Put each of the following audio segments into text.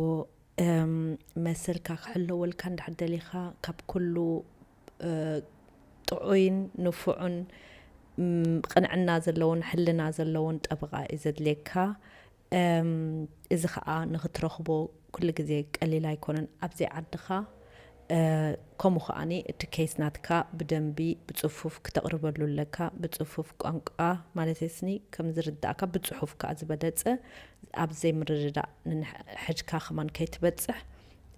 ዘለዎ መሰልካ ክሕለወልካ እንድሕር ደሊኻ ካብ ኩሉ ጥዑይን ንፉዑን ቕንዕና ዘለዎን ሕልና ዘለዎን ጠበቓ እዩ ዘድልየካ። እዚ ኸኣ ንኽትረኽቦ ኩሉ ግዜ ቀሊል ኣይኮነን። ኣብዘይ ዓድኻ ከምኡ ከኣ እቲ ኬስ ናትካ ብደንቢ ብጽፉፍ ክተቅርበሉ ኣለካ ብጽፉፍ ቋንቋ ማለተይስኒ ከም ዝርዳኣካ ብጽሑፍ ከኣ ዝበለጸ ኣብ ዘይምርድዳእ ንንሕድካ ከማን ከይትበጽሕ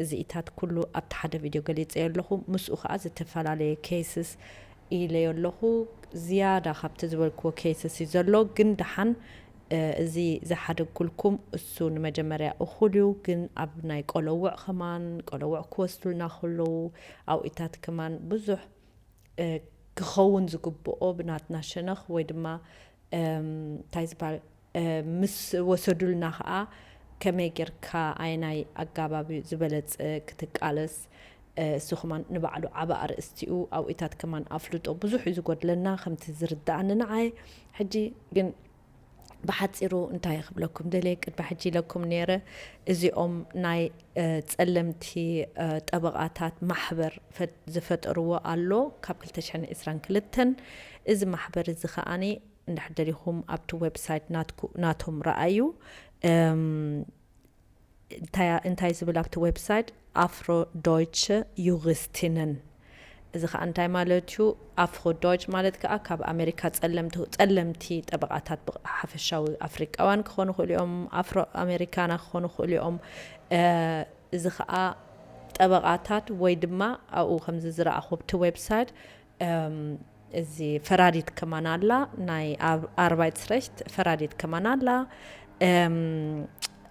እዚኢታት ኩሉ ኣብቲ ሓደ ቪድዮ ገሊጸዮ ኣለኹ ምስኡ ከኣ ዝተፈላለየ ኬስስ ኢለዮ ኣለኹ ዝያዳ ካብቲ ዝበልክዎ ኬስስ እዩ ዘሎ ግን ደሓን እዚ ዝሓደግኩልኩም እሱ ንመጀመርያ እኹል እዩ ግን ኣብ ናይ ቆለውዕ ከማን ቆለውዕ ክወስዱልና ከለዉ ኣውኢታት ከማን ብዙሕ ክኸውን ዝግብኦ ብናትና ሸነኽ ወይ ድማ እንታይ ዝበሃል ምስ ወሰዱልና ከዓ ከመይ ጌርካ ኣየናይ ኣጋባብ ዝበለፀ ክትቃለስ እሱ ከማን ንባዕሉ ዓቢ ኣርእስቲ'ዩ፣ ኣብኡታት ከማን ኣፍልጦ ብዙሕ'ዩ ዝጎድለና ከምቲ ዝርደኣኒ ንዓይ፣ ሕጂ ግን ብሓጺሩ እንታይ ክብለኩም ደልየ ቅድሚ ሕጂ ኢለኩም ኔረ እዚኦም ናይ ጸለምቲ ጠበቓታት ማሕበር ዝፈጠርዎ ኣሎ ካብ ክልተ ሽሕን ዕስራን ክልተን እዚ ማሕበር እዚ ከኣ እንድሕር ደሊኹም ኣብቲ ዌብሳይት ናትኩም ናቶም ረኣዩ እንታይ ዝብል ኣብቲ ዌብሳይት ኣፍሮ ዶይቸ ዩሪስቲነን እዚ ከኣ እንታይ ማለት እዩ ኣፍሮ ዶይች ማለት ከኣ ካብ ኣሜሪካ ጸለምቲ ጸለምቲ ጠበቃታት ብሓፈሻዊ ኣፍሪቃውያን ክኾኑ ክእሉ እዮም ኣፍሮ ኣሜሪካና ክኾኑ ክእሉ እዮም እዚ ከኣ ጠበቃታት ወይ ድማ ኣብኡ ከምዚ ዝረኣኹ ኣብቲ ዌብሳይት እዚ ፈራዲት ከማን ኣላ ናይ ኣርባይትስረሽት ፈራዲት ከማን ኣላ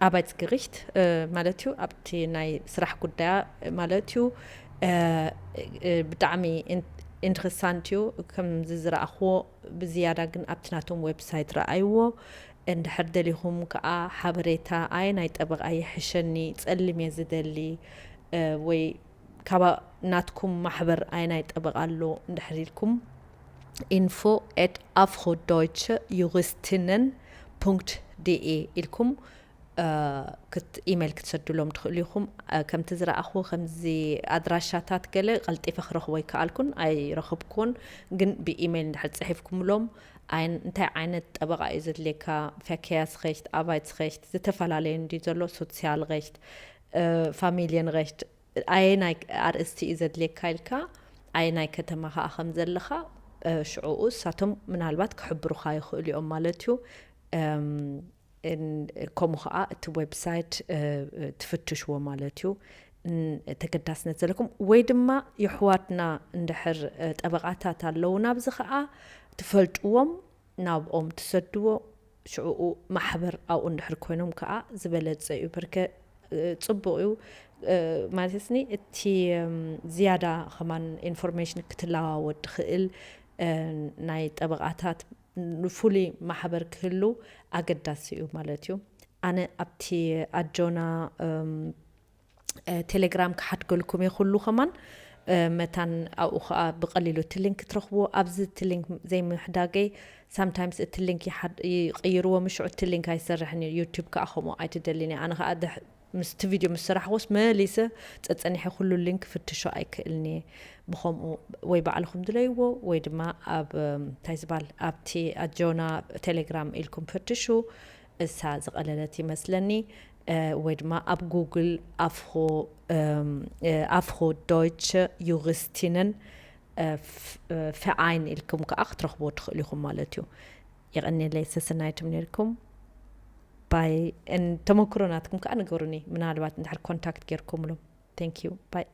ኣባይት ግሪሽት ማለት እዩ ኣብቲ ናይ ስራሕ ጉዳያ ማለት እዩ ብጣዕሚ ኢንትረሳንት እዩ ከምዚ ዝረኣኽዎ ብዝያዳ ግን ኣብቲ ናቶም ዌብሳይት ረኣይዎ እንድሕር ደሊኹም ከዓ ሓበሬታ ኣየናይ ጠበቓ ይሕሸኒ ፀሊም እየ ዝደሊ ወይ ካባ ናትኩም ማሕበር ኣየናይ ጠበቓ ኣሎ እንድሕር ኢልኩም ኢንፎ ኤት ኣፍሮ ዶይቸ ዩሪስቲነን ፑንክት ዲኢ ኢልኩም ኢሜይል ክትሰዱሎም ትኽእሉ ኢኹም ከምቲ ዝረኣኹ ከምዚ ኣድራሻታት ገለ ቀልጢፈ ክረኽቦ ይከኣልኩን ኣይረኽብኩን ግን ብኢሜይል እንድሕር ፅሒፍኩምሎም እንታይ ዓይነት ጠበቃ እዩ ዘድልየካ ፈከያስሬሽት ኣቫይትስሬሽት ዝተፈላለዩ እንዲ ዘሎ ሶሲያልሬሽት ፋሚልየንሬህት ኣየናይ ኣርእስቲ እዩ ዘድልየካ ኢልካ ኣየናይ ከተማ ከኣ ከም ዘለኻ ሽዕኡ እሳቶም ምናልባት ክሕብሩኻ ይኽእሉ እዮም ማለት እዩ ከምኡ ከዓ እቲ ዌብሳይት ትፍትሽዎ ማለት እዩ ተገዳስነት ዘለኩም ወይ ድማ የሕዋትና እንድሕር ጠበቃታት ኣለውና ኣብዚ ከዓ ትፈልጥዎም ናብኦም ትሰድዎ ሽዕኡ ማሕበር ኣብኡ እንድሕር ኮይኖም ከኣ ዝበለጸ እዩ በርከ ጽቡቅ እዩ ማለትኒ እቲ ዝያዳ ከማን ኢንፎርሜሽን ክትለዋወጥ ትኽእል ናይ ጠበቃታት ፍሉይ ማሕበር ክህሉ ኣገዳሲ እዩ ማለት እዩ ኣነ ኣብቲ ኣጆና ቴሌግራም ክሓድገልኩም እየ ኩሉ ከማን መታን ኣብኡ ከዓ ብቀሊሉ እቲ ሊንክ ትረኽብዎ ኣብዚ እቲ ሊንክ ዘይምሕዳገይ ሳምታይምስ እቲ ሊንክ ይቅይርዎ ምሽዑ እቲ ሊንክ ኣይሰርሕን እዩ ዩቱብ ከዓ ከምኡ ኣይትደልን እየ ኣነ ከዓ ምስቲ ቪድዮ ምስ ስራሕኩስ መሊሰ ፀፀኒሐ ኩሉ ሊንክ ክፍትሾ ኣይክእልን እየ ብከምኡ ወይ ባዕልኩም ድለይዎ ወይ ድማ ኣብ እንታይ ዝባል ኣብቲ ኣጆና ቴሌግራም ኢልኩም ፍትሹ እሳ ዝቀለለት ይመስለኒ ወይ ድማ ኣብ ጉግል ኣፍሮ ዶይቸ ዩሪስቲንን ፌኣይን ኢልኩም ከዓ ክትረኽብዎ ትኽእሉ ኢኹም ማለት እዩ የቀኒለይ ሰሰናይትም ነርኩም ባይ ተመክሮ ናትኩም ከዓ ንገሩኒ ምናልባት እንድሕር ኮንታክት ጌርኩምሎም ቴንክ ዩ ባይ